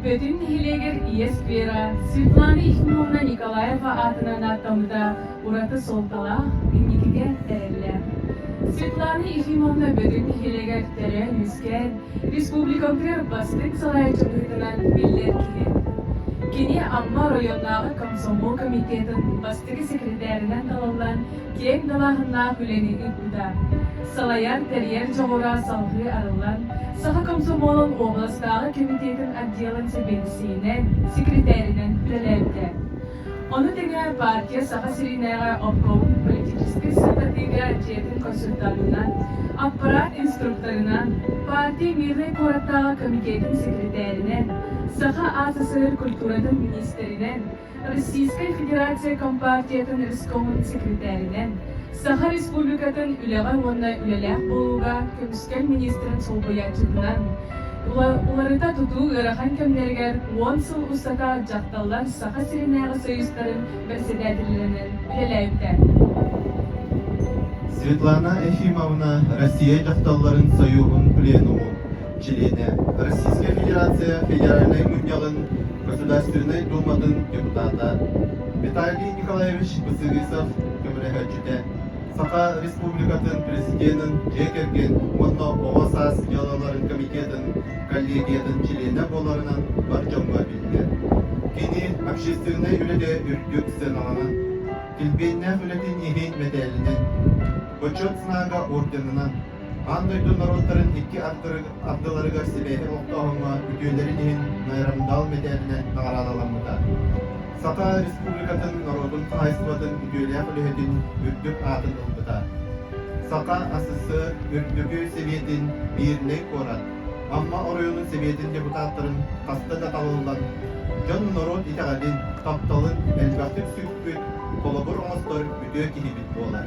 Бөтүн нэһилиэгэр ийэ сквера Светлана Ефимовна Николаева аатынан ааттаммыта ураты суолталаах, инникигэ тэриллэр. Светлана Ефимовна Бөтүн нэһилиэгэр төрөөн-үөскээн, республикабытыгар бастыҥ сарай дьылҕытынан биллэр киһи. Кини Амма оройуоннааҕы комсомол комитетын бастакы секретэринэн талыллан, киэҥ далааһыннаах үлэни ыыппыта. Салайар, тэрийэр дьоҕура салҕыы арыллан, саха комсомолун уобаластааҕы кэмитиэтин отделын сэбиэдиссэйинэн, секретэринэн үлэлээбитэ. Ону тэҥэ партия Саха сиринээҕи обкомун политическай сырдатыыга дьиэтин консультантынан, аппарат инструкторынан, партия Мирнэй куораттааҕы комитетин секретэринэн, саха АССР культуратын министринэн, Российскай Федерация Компартиятын өскөҕүн секретэринэн, Саха Республикатын үлэҕэ уонна үлэлээх буолууга көмүскэл министрин солбуйааччытынан, уларыта тутуу ыарахан кэмнэригэр уон сыл устата дьахталлар Саха сиринээҕи союзтарын бэрэссэдээтэллэринэн үлэлээбитэ. Светлана Ефимовна Россия дьахталларын союһун пленуму чилиэнэ, Российская Федерация Федеральнай Мунньаҕын Государственнай Дууматын депутата Виталий Николаевич Бысырысов көмөлөһөөччүтэ, Саха Республикатын Президенин дьиэ кэргэн уонна оҕо саас дьыалаларын комитетын коллегиятын чилиэнэ буоларынан бар дьонго биллэр. Кини общественнай үлэгэ үрдүк сыаналанан, килбиэннээх үлэтин иһин мэтээлинэн, Бочуот знага орденынан Аан дойду норуоттарын икки ардыларыгар сибээһи олохтооһуҥҥа үтүөлэрин иһин Майрамдал мэтээлинэ наҕараадаламмыта. Саха Республикатын норуотун хаһайыстыбатын үтүөлээх үлэһитин үрдүк аатын ылбыта. Саха ССС Үрдүкү Сэбиэтин Биирнэй куорат Амма оройуонун Сэбиэтин депутаттарын хаста да талыллан, дьон-норуот итэҕэлин, тапталын элбэхтик сүкпүт, холобур оҥостор үтүө киһибит буолар.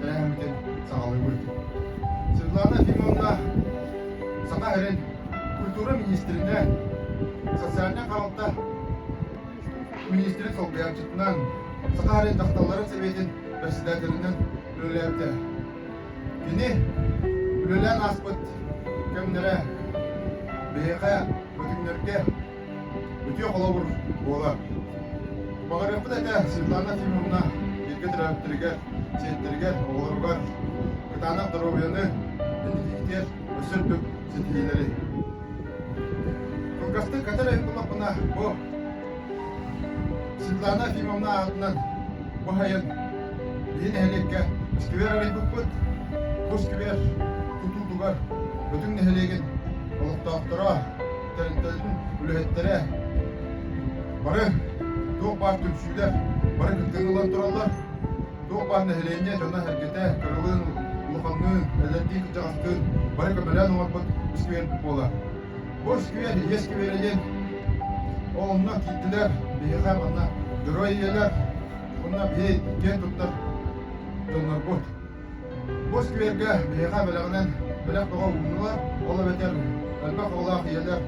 төрөөһүммүтүн саҕалыыбыт. Светлана Фимоновна саха эрин культура министринэ, социальнай хаалта министрин солбуйааччытынан, саха эрин дьахталларын сэбиэтин председателинэн үлэлээбитэ. Кини үлэлээн ааспыт кэмнэрэ биһиэхэ, бүтүннэргэ Үтүө холобур буолар. Баҕарыахпыт этэ Светлана Тимуровна бииргэ төрөөбүттэригэр, сиэттэригэр, оҕолоругар кытаанах доруобуйаны, интенситигэр өссө үрдүк ситиһиилэри. Кылгастык кэтээн буллахпына бу Светлана Тимовна аатынан бу айан биһи нэһилиэккэ сквер арыйбыппыт. Бу сквер тутулугар бүтүн нэһилиэгин олохтоохторо, тэрилтэлэрин үлэһиттэрэ бары туох баар түмсүүлэр бары кыттыыны ылан тураллар туох баар нэһилиэнньэ дьоно эргитэ кырылыын улаханныын эдэрдии кырдьаҕастыын бары көмөлөөн оҥорбут сквербит буолар бу сквер иһиэ скверийин онно киирдилэр биһиэхэ манна дьоруой ийэлэр уонна биһи киэн туттар дьоннорбут Бу сквергэ биһиэхэ бэлэҕинэн бэлэх бөҕө ууннулар, ол эбэтэр элбэх оҕолоох ийэлэр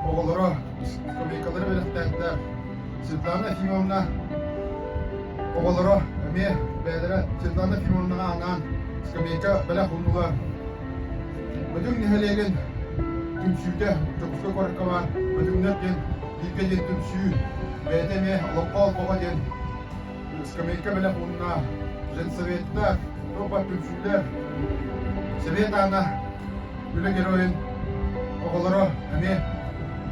оҕолоро, скамейкалары бэлэхтээтилэр. Светлана Ефимовна оҕолоро эмиэ бэйэлэрэ Светлана Ефимовнаҕа анаан скамейка бэлэх ууннулар. Бөтүҥ нэһилиэгин түмсүүтэ Дьокуускай куоракка баар Бөтүҥнэр диэн бииргэ диэн түмсүү бэйэтэ эмиэ олоххо олбоҕо диэн Скамейка бэлэх уонна женсоветтар, толпа түмсүүлэр, Совет аана Үлэ геройун оҕолоро эмиэ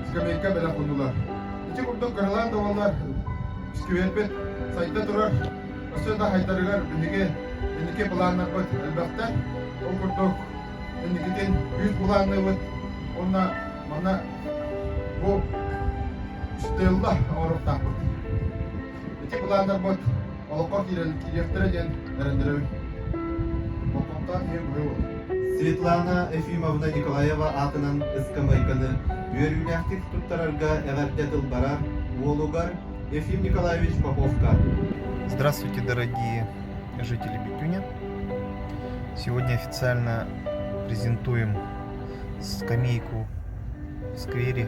скамейка бэлэх ууннулар. Ити курдук кыралаан да буоллар, скверпит сайда турар, өссө да хайдарыгар биһиги инники планнарбыт элбэхтэр. Ол курдук инникитин үүт былаанныыбыт уонна манна бу стелла оҥоруохтаахпыт. Ити былааннарбыт олоххо киириэхтэрэ диэн эрэннэрэбин. Болҕомтоҕун иһин быһый Светлана Ефимовна Николаева аатынан ыскамыайканы үөрүүлээхтик туттарарга эҕэрдэ тылбара уолугар Ефим Николаевич Поповка. Здравствуйте, дорогие жители Бикюня. Сегодня официально презентуем скамейку в сквере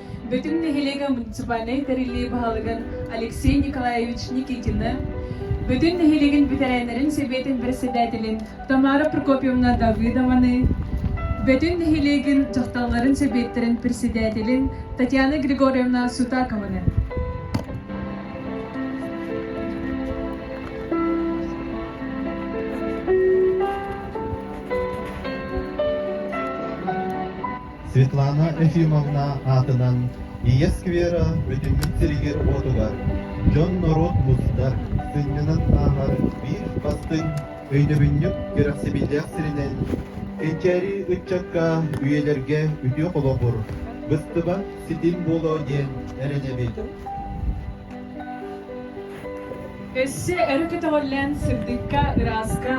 Бүтүн нэһилиэгэ муниципальнай тэриллии баһылыгын Алексей Николаевич Никитины, бүтүн нэһилиэгин бэтэрээннэрин сэбиэтин бэрэссэдээтэлин Тамара Прокопьевна Давыдованы, бүтүн нэһилиэгин дьахталларын сэбиэттэрин председателин Татьяна Григорьевна Сутакованы, Светлана Ефимовна аатынан Ийэ сквера бүтүммүт сиригэр-уотугар дьон-норуот мустар, сынньанан ааһар биир бастыҥ, өйдөбүнньүк кэрэхсэбиллээх сиринэн Эчээри ыччакка үйэлэргэ үтүө холобур, быстыбат ситим буолуо диэн эрэнэбит. Өссө өрө көтөҕүллэн сырдыкка, ырааска,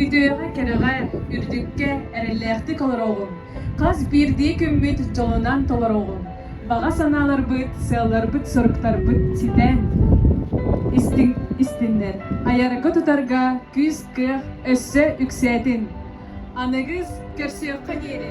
үтүөҕэ-кэрэҕэ, үрдүккэ эрэллээхтик олороҕун. Хас биирдии күммүт дьолунан толороҕун, баҕа санааларбыт, сыалларбыт-соруктарбыт ситэн истиннэр, айарга тутарга күүс-кыах өссө үксээтин! Аныгыс көрсүөххэ диэри!